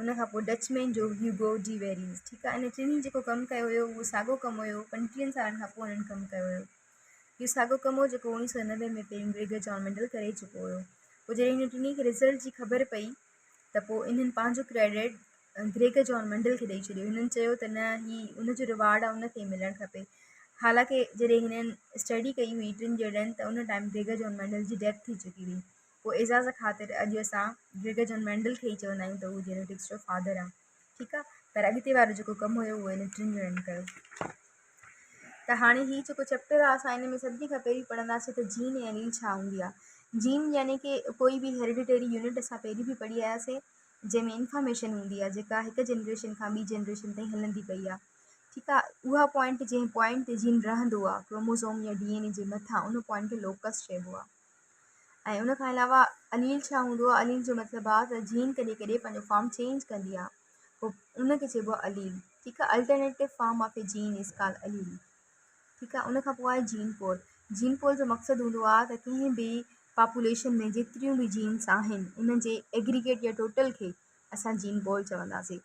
ان کان پوء Dutch man جو هيوگو ڊي ويريز ٺيڪ آهي ان ٽنهي جيڪو ڪم ڪيو هيو اهو ساڳو ڪم هيو پنجٽيهن سالن کان پوء انهن ڪم ڪيو هيو اهو ساڳو ڪم هو جيڪو اوڻيهه سؤ نوي ۾ پيرين بريگيڊيئر جان ميڊل ڪري چڪو هيو پوء جڏهن هن ٽنهي کي رزلٽ جي خبر پئي ته پوء انهن پنهنجو ڪريڊٽ گريگيئر جان ميڊل کي ڏئي ڇڏيو هنن چيو ته نه هي ان جو رواڊ آهي ان کي ملڻ کپي حالانڪه جڏهن هنن اسٽڊي ڪئي هئي ٽن جهڙن ته ان ٽائيم گريگيئر جان ميڊل جي ڊيٿ ٿي چڪي هئي پوء اعزاز خاطر اڄ اسان گريگر جان مينڊل کي ئي چوندا آهيون ته هو جينيٽڪس جو فادر آهي. ٺيڪ آهي. پر اڳتي وارو جيڪو ڪم هيو اهو هن ٽن ڄڻن ڪيو. ته هاڻي هي جيڪو چيپٽر آهي اسان ان ۾ سڀني کان پهرين پڙهنداسين ته جين ۽ اليل ڇا هوندي آهي. جين يعني ڪي ڪوئي به هيرڊيٽري يونٽ اسان پهرين به پڙهي آياسين جنهن ۾ انفارميشن هوندي آهي جيڪا هڪ جنريشن کان ٻي جنريشن تائين هلندي پئي آهي. ٺيڪ آهي. اها پوائنٽ جنهن پوائنٽ تي جين رهندو آهي ڪروموزوم يا ڊي اين اي جي مٿان ان پوائنٽ کي لوڪس چئبو آهي. ان کان علاوه عليل ڇا هوندو آهي عليل جو مطلب آهي ته جين ڪڏهن ڪڏهن پنهنجو فارم چينج ڪندي آهي پوء ان کي چئبو آهي عليل ٺيڪ آهي alternative form of a gene is call allele ٺيڪ آهي ان کان پوء آهي جين پول جين پول جو مقصد هوندو آهي ته ڪنهن به پاپوليشن ۾ جيتريون به جينس آهن ان جي ايگريگيٽ يا ٽوٽل کي اسان جين بول چونداسين.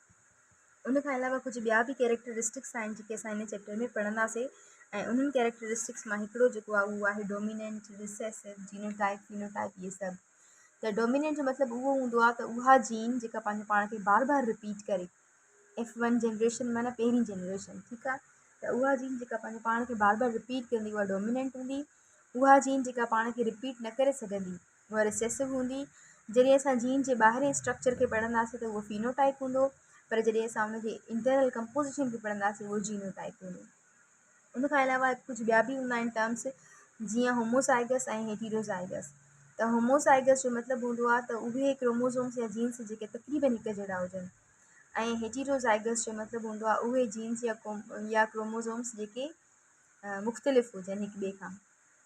ان کان علاوه ڪجهه ٻيا به ڪيريڪٽرسٽڪس آهن جيڪي اسان هن چيپٽر ۾ پڙهنداسين ۽ انهن ڪيريڪٽرسٽڪس مان هڪڙو جيڪو آهي اهو آهي ڊوميننٽ، ريسيسو، جينوٽائيپ، فينوٽائيپ اهي سڀ. ته ڊوميننٽ جو مطلب اهو هوندو آهي ته اها جين جيڪا پنهنجو پاڻ کي بار بار رپيٽ ڪري ايف ون جنريشن معنيٰ پهرين جنريشن ٺيڪ آهي ته اها جين جيڪا پنهنجو پاڻ کي بار بار رپيٽ ڪندي اها ڊوميننٽ هوندي اها جين جيڪا پاڻ کي رپيٽ نه ڪري سگهندي اها ريسيسو هوندي. جڏهن اسان جين جي ٻاهرين اسٽرڪچر کي پڙهنداسين ته اهو فينو ٽائيپ هوندو پر جڏهن اسان ان جي انٽرنل ڪمپوزيشن کي پڙهنداسين اهو جينو ٽائيپ هوندو. ان کان علاوه ڪجهه ٻيا به هوندا آهن ٽرمس جيئن هوموزائگس ۽ هيٽيروزائگس ته هوموزائگس جو مطلب هوندو آهي ته اهي ڪروموزومس يا جينس جيڪي تقريبن هڪ جهڙا هجن ۽ هيٽيروزائگس جو مطلب هوندو آهي اهي جينس يا ڪروموزومس جيڪي مختلف هجن هڪ ٻئي کان.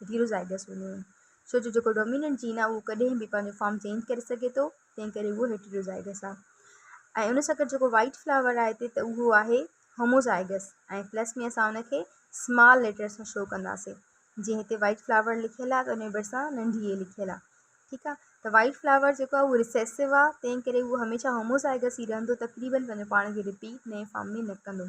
هيٽيروزائگس هونديون آهن، ڇو جو جيڪو ڊوميننٽ جين آهي اهو ڪڏهن به پنهنجو فارم چينج ڪري سگهي ٿو، تنهن ڪري اهو هيٽيروزائگس آهي ۽ ان سان گڏ جيڪو وائيٽ فلاور آهي هتي ته اهو آهي هوموزائگس ۽ پلس ۾ اسان ان کي سمال ليٽر سان شو ڪنداسين، جيئن هتي وائيٽ فلاور لکيل آهي ته ان جي ڀرسان ننڍي اي لکيل آهي. ٺيڪ آهي ته وائيٽ فلاور جيڪو آهي اهو ريسيسو آهي، تنهن ڪري اهو هميشه هوموزائگس ئي رهندو، تقريبن پنهنجو پاڻ کي رپيٽ نئين فارم ۾ نه ڪندو.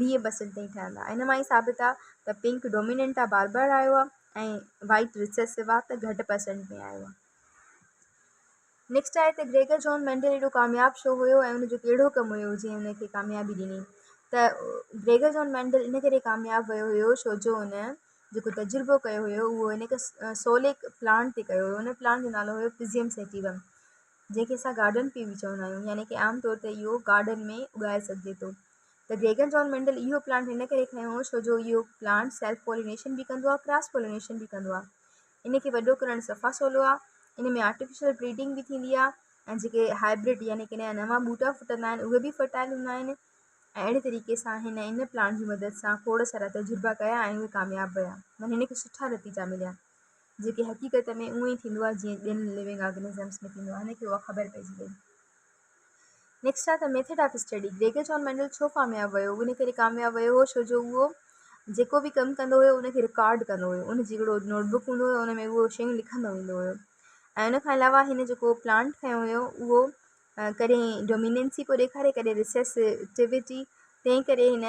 ويهه پرسينٽ تائين ٺهندا ان مان ئي ثابت آ ته پنڪ ڊوميننٽ آ بار بار آيو آ ۽ وائيٽ ريسيسو آ ته گهٽ پرسينٽ ۾ آيو آ نيڪسٽ آهي ته گريگر جون مينڊل ايڏو ڪامياب ڇو هيو ۽ ان جو ڪهڙو ڪم هيو جنهن ان کي ڪاميابي ڏني ته گريگر جون مينڊل ان ڪري ڪامياب ويو هيو ڇو جو ان جيڪو تجربو ڪيو هيو اهو ان کي سوليڪ پلانٽ تي ڪيو هيو ان پلانٽ جو نالو هيو پزيم سيٽيوم جنهن کي اسان گارڊن پي به چوندا آهيون يعني ڪي عام طور تي اهو گارڊن ۾ اڳائي سگهجي ٿو ته گيگن جان مينڊل اهو پلانٽ ان ڪري کنيو هو ڇو جو اهو پلانٽ سيلف پولينيشن به ڪندو آهي ڪراس پولينيشن به ڪندو آهي ان کي وڏو ڪرڻ صفا سولو آهي ان ۾ آرٽيفيشل بريڊنگ به ٿيندي آهي ۽ جيڪي هائبرڊ يعني ڪي نيا نوان ٻوٽا ڦٽندا آهن اهي به فرٽائل هوندا آهن ۽ اهڙي طريقي سان هن ان پلانٽ جي مدد سان کوڙ سارا تجربا ڪيا ۽ اهي ڪامياب ويا معنيٰ هن کي سٺا نتيجا مليا جيڪي حقيقت ۾ اهو ئي ٿيندو آهي جيئن ٻين لوينگ آرگنزمس ۾ ٿيندو آهي هن کي اها خبر پئجي وئي next of the method of study, Gregor John Mendel ڇو ڪامياب ويو؟ ان ڪري ڪامياب ويو هو ڇو جو اهو جيڪو به ڪم ڪندو هيو ان کي رڪارڊ ڪندو هيو. ان جي هڪڙو نوٽ بڪ هوندو هيو ان ۾ اهو شيون لکندو ويندو هيو ۽ ان کان علاوه هن جيڪو پلانٽ کنيو هيو اهو ڪڏهن ڊوميننسي پيو ڏيکاري ڪڏهن ريسيسٽيوٽي تنهن ڪري هن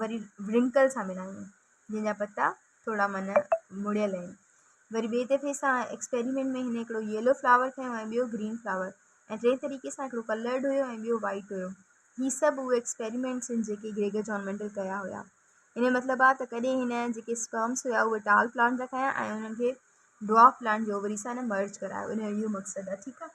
وري ورنڪل سان ملائون جنهن جا پتا ٿورا من مڙيل آهن وري ٻئي دفعي سان ايڪسپيريمينٽ ۾ هن هڪڙو ييلو فلاور کيو ۽ ٻيو گرين فلاور ۽ ٽئين طريقي سان هڪڙو ڪلرڊ هيو ۽ ٻيو وائيٽ هيو هي سڀ اهي ايڪسپيريمينٽس آهن جيڪي گريگر جان مينڊل ڪيا هيا ان جو مطلب آهي ته ڪڏهن هن جيڪي اسپرمس هيا اهي ٽال پلانٽ جا کنيا ۽ انهن کي ڊوارف پلانٽ جي اووري سان هن مرج ڪرايو ان جو اهو مقصد آهي ٺيڪ آهي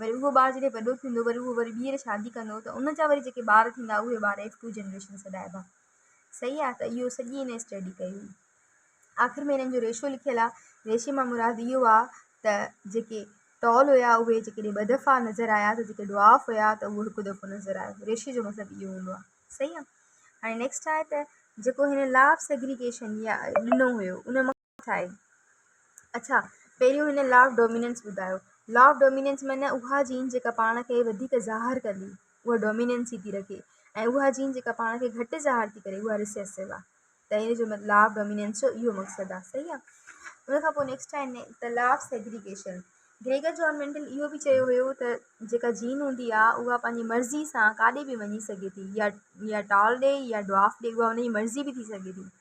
وري اهو ٻار جڏهن وڏو ٿيندو وري اهو وري ٻيهر شادي ڪندو ته ان جا وري جيڪي ٻار ٿيندا اهي ٻار ايف ٽو جنريشن سڏائبا صحيح آ ته اهو سڄي هن اسٽڊي ڪئي هئي آخر ۾ هنن جو ريشو لکيل آ ريشي مان مراد اهو آ ته جيڪي ٽال هيا اهي جيڪڏهن ٻه دفعا نظر آيا ته جيڪي ڊوارف هيا ته اهو هڪ دفعو نظر آيو ريشي جو مطلب اهو هوندو آ صحيح آ هاڻي نيڪسٽ آهي ته جيڪو هن لا آف سيگريگيشن يا ڏنو هيو ان ٿائي. اڇا پهريون هن لا آف ڊوميننس ٻڌايو. لا آف ڊوميننس معنيٰ اها جين جيڪا پاڻ کي وڌيڪ ظاهر ڪندي اها ڊوميننس ئي ٿي رکي ۽ اها جين جيڪا پاڻ کي گهٽ ظاهر ٿي ڪري اها ريسيسو آ ته ان جو لا آف ڊوميننس جو اهو مقصد آ صحيح آ. ان کان پوء نيڪسٽ آهي ني ته law of segregation Gregor John Mendel اهو به چيو هيو ته جيڪا جين هوندي آ اها پنهنجي مرضي سان ڪاڏي به وڃي سگهي ٿي يا يا ٽال ڏي يا ڊوارف ڏي اها ان جي مرضي به ٿي سگهي ٿي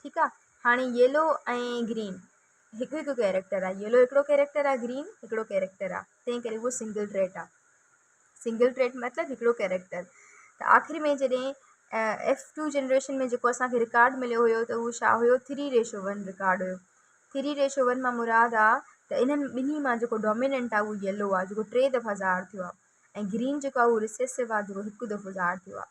ٺيڪ آ هاڻي ييلو ۽ گرين هڪ هڪ ڪيريڪٽر آ ييلو هڪڙو ڪيريڪٽر آ گرين هڪڙو ڪيريڪٽر آ تنهن ڪري هو سنگل ٽريٽ آ سنگل ٽريٽ مطلب هڪڙو ڪيريڪٽر ته آخر ۾ جڏهن ايف ٽو جنريشن ۾ جيڪو اسانکي رڪارڊ مليو هيو ته هو ڇا هيو ٿري ريشو ون رڪارڊ هيو ٿري ريشو ون مان مراد آ ته انهن ٻنهي مان جيڪو ڊوميننٽ آ اهو ييلو آ جيڪو ٽي دفعا ظاهر ٿيو آ ۽ گرين جيڪو آ اهو ريسيسو آ جيڪو هڪ دفعو ظاهر ٿيو آ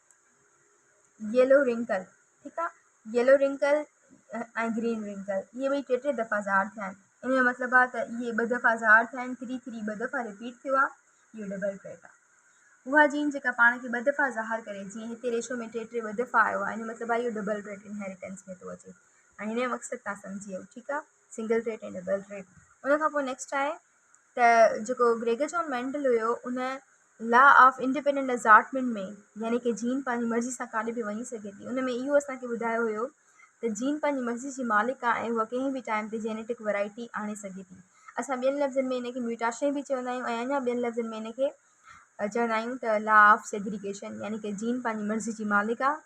ييلو رنڪل ٺيڪ آ ييلو رنڪل ۽ گرين رنڪل اهي ٻئي ٽي ٽي دفعا ظاهر ٿيا آهن ان جو مطلب آ ته اهي ٻه دفعا ظاهر ٿيا آهن ٿري ٿري ٻه دفعا رپيٽ ٿيو آ اهو ڊبل ٽريڪ آ اها جين جيڪا پاڻ کي ٻه دفعا ظاهر ڪري جيئن هتي ريشو ۾ ٽي ٽي ٻه دفعا آيو آ ان جو مطلب آ اهو ڊبل ٽريڪ انهيريٽنس ۾ ٿو اچي ۽ هن جو مقصد تان سمجهي ويو ٺيڪ آ سنگل ٽريڪ ۽ ڊبل ٽريڪ ان کان پوء نيڪسٽ آهي ته جيڪو گريگر جان مينڊل هيو ان لا آف انڊيپينڊنٽ ازارٽمينٽ ۾ يعني ڪي جين پنهنجي مرضي سان ڪاڏي به وڃي سگهي ٿي ان ۾ اهو اسان کي ٻڌايو هيو ته جين پنهنجي مرضي جي مالڪ آهي ۽ هوء ڪنهن به ٽائيم تي جينيٽڪ ورايٽي آڻي سگهي ٿي اسان ٻين لفظن ۾ ان کي ميوٽاشين به چوندا آهيون ۽ اڃا ٻين لفظن ۾ ان کي چوندا آهيون ته لا آف سيگريگيشن يعني ڪي جين پنهنجي مرضي جي مالڪ آهي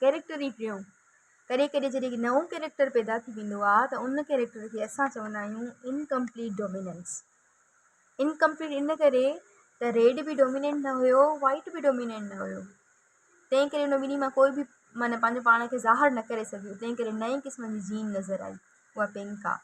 ڪيريڪٽر ئي ٽيون. ڪڏهن ڪڏهن جڏهن هڪ نئون ڪيريڪٽر پيدا ٿي ويندو آهي ته ان ڪيريڪٽر کي اسان چوندا آهيون Incomplete Dominance. Incomplete ان ڪري ته ريڊ به ڊوميننٽ نه هيو وائيٽ به ڊوميننٽ نه هيو تنهن ڪري ان ٻنهي مان ڪوئي به معنيٰ پنهنجو پاڻ کي ظاهر نه ڪري سگهيو تنهن ڪري نئين قسم جي جين نظر آئي اها پنڪ آهي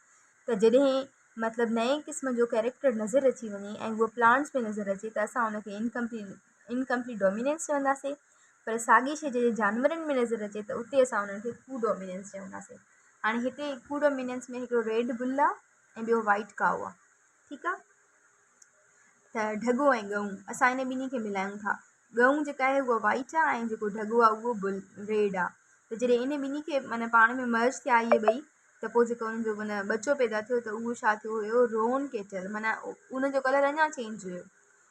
ته جڏهن مطلب نئين قسم جو ڪيريڪٽر نظر اچي وڃي ۽ هو پلانٽس ۾ نظر اچي ته اسان ان کي Incomplete Incomplete Dominance چونداسين پر ساڳي شيء جڏهن جانورن ۾ نظر اچي ته اتي اسان انهن کي ڪو ڊومينينس چونداسين هاڻي هتي ڪو ڊومينينس ۾ هڪڙو ريڊ بل آهي ۽ ٻيو وائيٽ ڪائو آهي ٺيڪ آهي ته ڍڳو ۽ ڳئون اسان ان ٻنهي کي ملايون ٿا ڳئون جيڪا آهي اها وائيٽ آهي ۽ جيڪو ڍڳو آهي اهو بل ريڊ آهي ته جڏهن ان ٻنهي کي معنی پاڻ ۾ مرج ٿيا اهي ٻئي ته پوء جيڪو ان جو معنی ٻچو پيدا ٿيو ته اهو ڇا ٿيو هيو رون ڪيٽل معنی ان جو ڪلر اڃا چينج هيو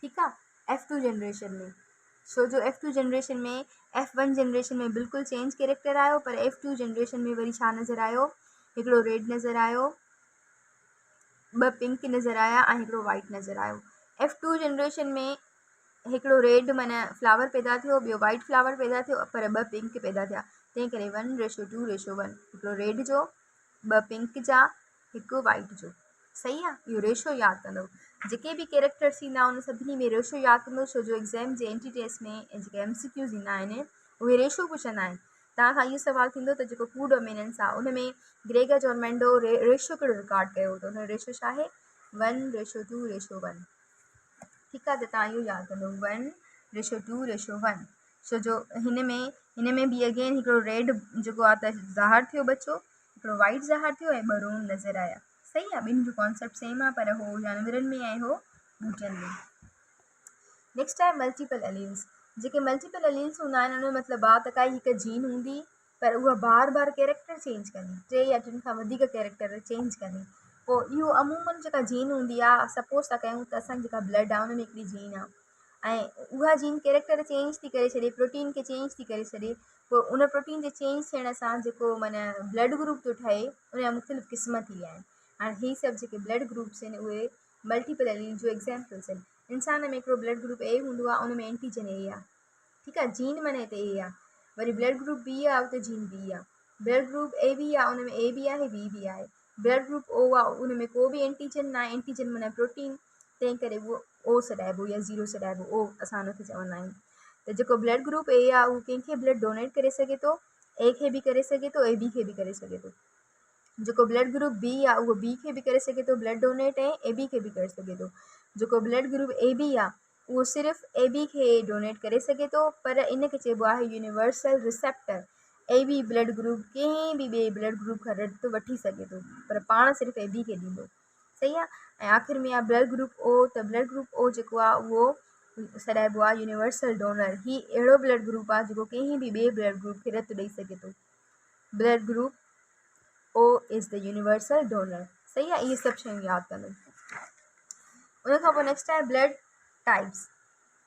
ٺيڪ آ ايف ٽو جنريشن ۾ ڇو جو F two generation ۾ F one generation ۾ بلڪل چينج ڪيريڪٽر آيو پر ايف ٽو جنريشن ۾ وري ڇا نظر آيو هڪڙو ريڊ نظر آيو ٻه پنڪ نظر آيا ۽ هڪڙو وائٽ نظر آيو ايف ٽو جنريشن ۾ هڪڙو ريڊ معنيٰ فلاور پيدا ٿيو ٻيو وائٽ فلاور پيدا ٿيو پر ٻه پنڪ پيدا ٿيا تنهن ڪري one ratio two ratio one هڪڙو ريڊ جو ٻه پنڪ جا هڪ وائٽ جو صحيح آ اهو ريشو ياد ڪندو جيڪي به ڪيريڪٽرس ايندا ان سڀني ۾ ريشو ياد ڪندو ڇو جو ايگزام جي اين ٽي ٽيسٽ ۾ جيڪي ايم سي ڪيوز ايندا آهن اهي ريشو پڇندا آهن توهان کان اهو سوال ٿيندو ته جيڪو ڪوڊ اميننس آ ان ۾ گريگر جون مينڊو ريشو ڪهڙو رڪارڊ ڪيو ته ان جو ريشو ڇا آهي one ratio two ratio one ٺيڪ آ ته توهان اهو ياد ڪندو one ratio two ratio one ڇو جو هن ۾ هن ۾ به اگين هڪڙو ريڊ جيڪو آ ته ظاهر ٿيو ٻچو هڪڙو وائيٽ ظاهر ٿيو ۽ ٻه روم نظر آيا. صحيح آ ٻنهي جو ڪانسيپٽ سيم آ پر هو جانورن ۾ ۽ هو ٻوٽن ۾. نيڪسٽ آهي ملٽيپل اليلز. جيڪي ملٽيپل اليلز هوندا آهن ان جو مطلب آ ته ڪائي هڪ جين هوندي پر اها بار بار ڪيريڪٽر چينج ڪندي، ٽي يا ٽن کان وڌيڪ ڪيريڪٽر چينج ڪندي. پوء اهو عمومن جيڪا جين هوندي آ سپوز ٿا ڪيون ته اسان جي جيڪا بلڊ آ ان ۾ هڪڙي جين آ. ۽ اها جين ڪيريڪٽر چينج ٿي ڪري ڇڏي پروٽين کي چينج ٿي ڪري ڇڏي پوء ان پروٽين جي چينج ٿيڻ سان جيڪو معنيٰ بلڊ گروپ ٿو ٺهي ان جا مختلف قسم ٿي ويا آهن هاڻي هي سڀ جيڪي بلڊ گروپس آهن اهي ملٽيپل الين جو ايگزامپلس آهن انسان ۾ هڪڙو بلڊ گروپ اي هوندو آهي ان ۾ اينٽيجن اي آهي ٺيڪ آهي جين معنيٰ هتي اي آهي وري بلڊ گروپ بي آهي اتي جين بي آهي بلڊ گروپ اي بي آهي ان ۾ اي بي آهي بي بي آهي بلڊ گروپ او آهي ان ۾ ڪو به اينٽيجن نه آهي اينٽيجن معنيٰ پروٽين تنهن ڪري اهو او سڏائبو يا زيرو سڏائبو او اسان ان کي چوندا آهيون ته جيڪو بلڊ گروپ اي آهي اهو ڪنهن کي بلڊ ڊونيٽ ڪري سگهي ٿو اي کي به ڪري سگهي ٿو اي بي کي به ڪري سگهي ٿو جيڪو بلڊ گروپ بي آهي اهو بي کي به ڪري سگهي ٿو بلڊ ڊونيٽ ۽ اي بي کي به ڪري سگهي ٿو جيڪو بلڊ گروپ اي بي آهي اهو صرف اي بي کي ڊونيٽ ڪري سگهي ٿو پر ان کي چئبو آهي universal receptor A B blood group ڪنهن به ٻئي بلڊ گروپ کان رت وٺي سگهي ٿو پر پاڻ صرف اي بي کي ڏيندو صحيح آ ۽ آخر ۾ آ بلڊ گروپ او ته بلڊ گروپ او جيڪو آ اهو سڏائبو آ يونيورسل ڊونر هي اهڙو بلڊ گروپ آ جيڪو ڪنهن به ٻئي بلڊ گروپ کي رت ڏئي سگهي ٿو blood group O is the universal donor صحيح آ اهي سڀ شيون ياد ڪندو ان کان پوء نيڪسٽ آهي بلڊ ٽائيپس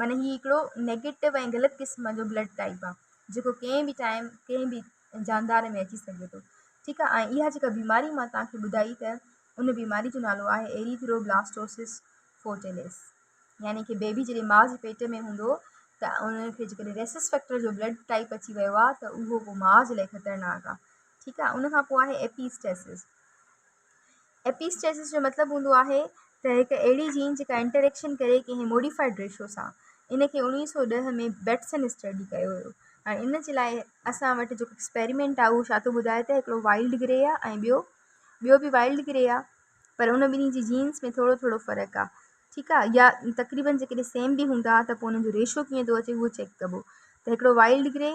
معنيٰ هي هڪڙو نيگيٽو ۽ غلط قسم جو بلڊ ٽائيپ آهي جيڪو ڪنهن به ٽائيم ڪنهن به جاندار ۾ اچي سگهي ٿو ٺيڪ آهي ۽ اها جيڪا بيماري مان توهان کي ٻڌائي ته ان بيماري جو نالو آهي ايريٿروبلاسٽوسس فوٽيلس يعني ڪي بيبي جڏهن ماء جي پيٽ ۾ هوندو ته ان کي جيڪڏهن ريسس فيڪٽر جو بلڊ ٽائيپ اچي ويو آهي ته اهو پوء ماء جي لاء خطرناڪ آهي ٺيڪ آهي ان کان پوء آهي ايپيسٽيسس ايپيسٽيسس جو مطلب هوندو آهي ته هڪ اهڙي جين جيڪا انٽريڪشن ڪري ڪنهن موڊيفائيڊ ريشو سان. ان کي اوڻيهه سؤ ڏهه ۾ بيٽسن اسٽڊي ڪيو هيو. هاڻي ان جي لاء اسان وٽ جيڪو ايڪسپيريمينٽ آهي اهو ڇا ٿو ٻڌائي ته هڪڙو وائلڊ گري آهي ۽ ٻيو ٻيو به وائلڊ گري آهي پر ان ٻنهي جي جينز ۾ ٿورو ٿورو فرق آهي ٺيڪ آهي يا تقريبن جيڪڏهن سيم به هوندا ته پوء انهن جو ريشو ڪيئن ٿو اچي اهو چيڪ ڪبو ته هڪڙو وائلڊ گري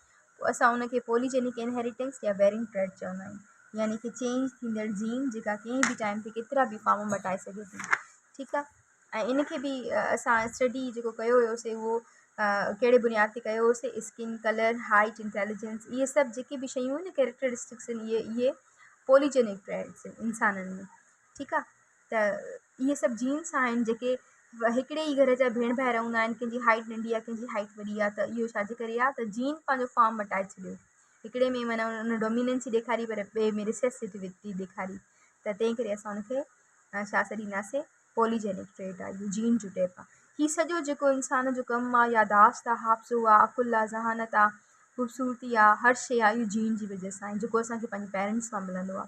پوء اسان ان کي پولي جينڪ انهيريٽنس يا بيرنگ ٽريٽ چوندا آهيون يعني هڪ چينج ٿيندڙ جين جيڪا ڪنهن به ٽائيم تي ڪيترا به فارم مٽائي سگهي ٿي ٺيڪ آهي ۽ ان کي به اسان اسٽڊي جيڪو ڪيو هيوسي اهو ڪهڙي بنياد تي ڪيو هيوسي اسڪن ڪلر هائيٽ انٽيليجنس اهي سڀ جيڪي به شيون ڪيريڪٽرسٽڪس آهن اهي اهي پولي جينڪ ٽريٽس انسانن ۾ ٺيڪ آ ته اهي سڀ جينس آهن جيڪي هڪڙي ئي گهر جا ڀيڻ ڀائر هوندا آهن ڪنهن جي هائيٽ ننڍي آ ڪنهن جي هائيٽ وڏي آ ته اهو ڇاجي ڪري آ ته جين پنهنجو فارم مٽائي ڇڏيو هڪڙي ۾ معنيٰ ان ڊوميننسي ڏيکاري پر ٻئي ۾ ريسيسٽيوٽي ٿي ڏيکاري ته تنهن ڪري اسان ان کي ڇا سڏينداسي پولي جينڪ ٽريٽ آ اهو جين جو ٽيپ آ هي سڄو جيڪو انسان جو ڪم آ ياداشت آ حافظو آ عقل آ ذهانت آ خوبصورتي آ هر شي آ اهو جين جي وجه سان جيڪو اسان کي پنهنجي پيرنٽس مان ملندو آ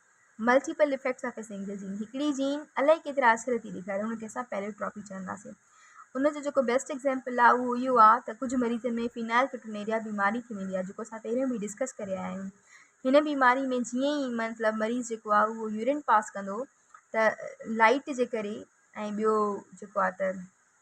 multiple effects of a single gene هڪڙي جين الائي ڪيترا اثر ٿي ڏيکاري ان کي اسان پيليوٽراپي چونداسين ان جو جيڪو بيسٽ ايگزامپل آهي اهو اهو آهي ته ڪجهه مريضن ۾ فينائل ڪيٽونيريا بيماري ٿي ويندي آهي جيڪو اسان پهريون به ڊسڪس ڪري آيا آهيون هن بيماري ۾ جيئن ئي مطلب مريض جيڪو آهي اهو يورين پاس ڪندو ته لائٽ جي ڪري ۽ ٻيو جيڪو آهي ته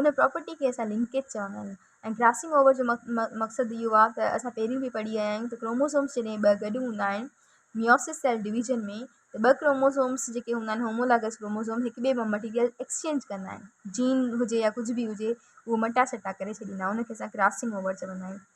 ان پراپرٽي کي اسان لنڪيج چوندا آهيون ۽ ڪراسنگ اوور جو مقصد اهو آهي ته اسان پهريون به پڙهي آيا آهيون ته ڪروموزومس جڏهن ٻه گڏ هوندا آهن ميوسس سيل ڊويزن ۾ ته ٻه ڪروموزومس جيڪي هوندا آهن هومولاگس ڪروموزوم هڪ ٻئي مان مٽيريل ايڪسچينج ڪندا آهن جين هجي يا ڪجهه به هجي اهو مٽا سٽا ڪري ڇڏيندا آهن ان کي اسان ڪراسنگ اوور چوندا آهيون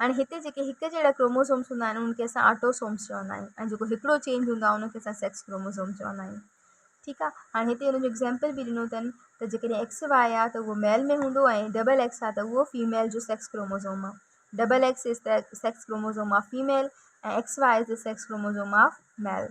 هاڻي هتي جيڪي هڪ جهڙا ڪروموزومز هوندا آهن ان کي اسان آٽوسومز چوندا آهيون ۽ جيڪو هڪڙو چينج هوندو آهي ان کي اسان سيڪس ڪروموزوم چوندا آهيون ٺيڪ آهي هاڻي هتي ان جو ايگزامپل به ڏنو اٿن ته جيڪڏهن ايڪس وائي آهي ته اهو ميل ۾ هوندو ۽ ڊبل ايڪس آهي ته اهو فيميل جو سيڪس ڪروموزوم آهي double X is the sex chromosome of female ۽ X Y is the sex chromosome of ميل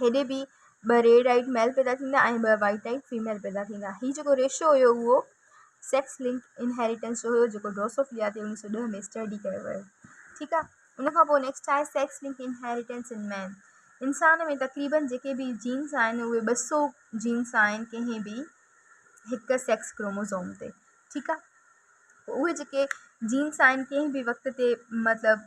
هيڏي به ٻه ريڊ آئيڊ ميل پيدا ٿيندا ۽ ٻه وائيٽ آئيڊ فيميل پيدا ٿيندا. هي جيڪو ريشو هيو اهو سيڪس لنڪ انهيريٽنس جو هيو جيڪو ڊروسوفليا تي اوڻيهه سؤ ڏهه ۾ اسٽڊي ڪيو ويو ٺيڪ آهي ان کان پوء نيڪسٽ آهي sex link inheritance in man انسان ۾ تقريبن جيڪي به جينس آهن اهي ٻه سؤ جينس آهن ڪنهن به هڪ سيڪس ڪروموزوم تي ٺيڪ آهي اهي جيڪي جينس آهن ڪنهن به وقت تي مطلب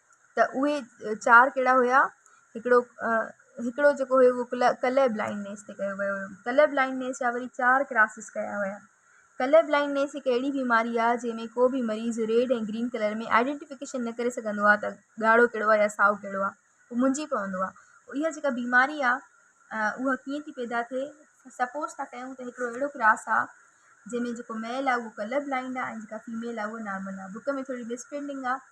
ته اهي چار ڪهڙا هيا هڪڙو هڪڙو جيڪو هيو اهو ڪل ڪلر بلائنڊنيس تي ڪيو ويو هيو ڪلر بلائنڊنيس جا وري چار ڪلاسز ڪيا ويا ڪلر بلائنڊنيس هڪ اهڙي بيماري آ جنهن ۾ ڪو بي مريض ريڊ ۽ گرين ڪلر ۾ آئيڊينٽيفڪيشن نه ڪري سگهندو آ ته ڳاڙهو ڪهڙو آ يا سائو ڪهڙو آ هو منجهي پوندو آ اها جيڪا بيماري آ اها ڪيئن ٿي پيدا ٿئي سپوز ٿا ڪيون ته هڪڙو اهڙو ڪلاس آ جنهن ۾ جيڪو ميل آ اهو ڪلر بلائنڊ آ ۽ جيڪا فيميل آ اهو نارمل آ بڪ ۾ ٿوري مس پرنٽنگ آ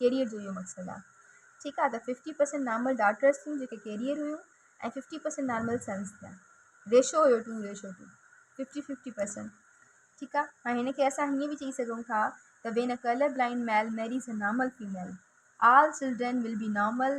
ڪيريئر جو اهو مقصد آهي ٺيڪ آهي ته ففٽي پرسنٽ نارمل ڊاٽرس ٿيون جيڪي ڪيريئر هيون ۽ ففٽي پرسنٽ نارمل سنس ٿيا ريشو هيو to ratio to fifty fifty percent ٺيڪ آهي هاڻي هن کي اسان هيئن به چئي سگهون ٿا ته when a colour blind male marries a normal female all children will be normal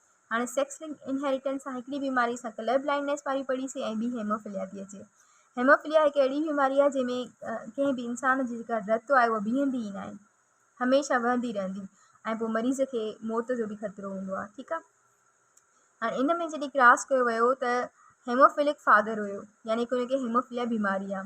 هاڻي سيڪس لنڪ انهيريٽنس سان هڪڙي بيماري سان ڪلر بلائنڊنيس واري پڙي سي ۽ ٻي هيموفليا ٿي اچي. هيموفليا هڪ اهڙي بيماري آهي جنهن ۾ ڪنهن به انسان جي جيڪا رت آهي اها بيهندي ئي ناهي هميشه وهندي رهندي ۽ پوء مريض کي موت جو به خطرو هوندو آهي ٺيڪ آهي هاڻي ان ۾ جڏهن ڪراس ڪيو ويو ته هيموفلڪ فادر هيو يعني ڪنهن کي هيموفليا بيماري آهي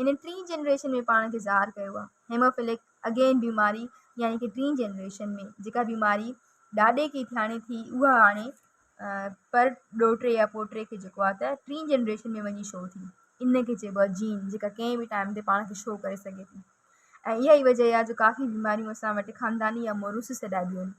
انهن ٽين جنريشن ۾ پاڻ کي ظاهر ڪيو آهي هيموفلڪ اگين بيماري يعني ڪي ٽين جنريشن ۾ جيڪا بيماري ڏاڏي کي ٿياڻي ٿي اها هاڻي پر ڏوٽي يا پوٽي کي جيڪو آهي ته ٽين جنريشن ۾ وڃي شو ٿي ان کي چئبو آهي جين جيڪا ڪنهن بي ٽائم تي پاڻ کي شو ڪري سگهي ٿي ۽ اها ئي وجه آهي جو ڪافي بيماريون اسان وٽ خانداني يا موروثي سڏائبيون آهن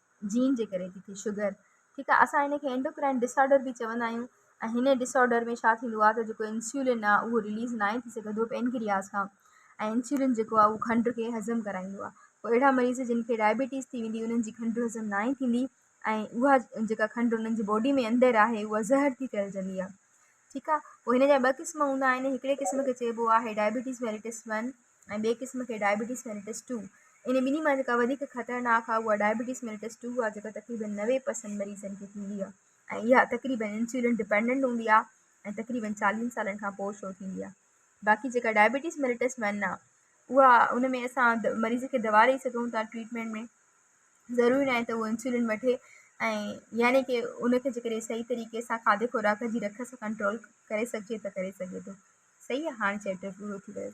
جين جي ڪري ٿي ٿئي شگر ٺيڪ آ اسان ان کي اينڊوڪرائن ڊسآرڊر به چوندا آهيون ۽ هن ڊسآرڊر ۾ ڇا ٿيندو آ ته جيڪو انسولين آ اهو رليز ناهي ٿي سگهندو پينڪرياس کان ۽ انسولين جيڪو آ اهو کنڊ کي هضم ڪرائيندو آ پوء اهڙا مريض جن کي ڊائبيٽيز ٿي ويندي انهن جي کنڊ هضم ناهي ٿيندي ۽ اها جيڪا کنڊ انهن جي باڊي ۾ اندر آهي اها زهر ٿي ڦهلجندي آ ٺيڪ آ پوء هن جا ٻه قسم هوندا آهن هڪڙي قسم کي چئبو آهي ڊائبيٽيز ميلٽس ون ۽ ٻئي قسم کي ڊائبيٽيز ميليٽس ٽو. انهن ٻنهي مان جيڪا وڌيڪ خطرناڪ آهي اها ڊائبيٽيز ميليٽس ٽو آهي جيڪا تقريبن نوي پرسنٽ مريضن کي ٿيندي آهي ۽ اها تقريبن انسولين ڊپينڊنٽ هوندي آهي ۽ تقريبن چاليهن سالن کان پوء شروع ٿيندي آهي باقي جيڪا ڊائبيٽيز ميليٽس ون آهي اها ان ۾ اسان ميريض کي دوا ڏئي سگهون ٿا ٽريٽمينٽ ۾ ضروري ناهي ته هو انسولين وٺي ۽ يعني ڪي ان کي جيڪڏهن صحيح طريقي سان کاڌي خوراڪ جي رک سان ڪنٽرول ڪري سگهجي ته ڪري سگهي ٿو صحيح آهي هاڻي چيپٽر پورو ٿي ويو.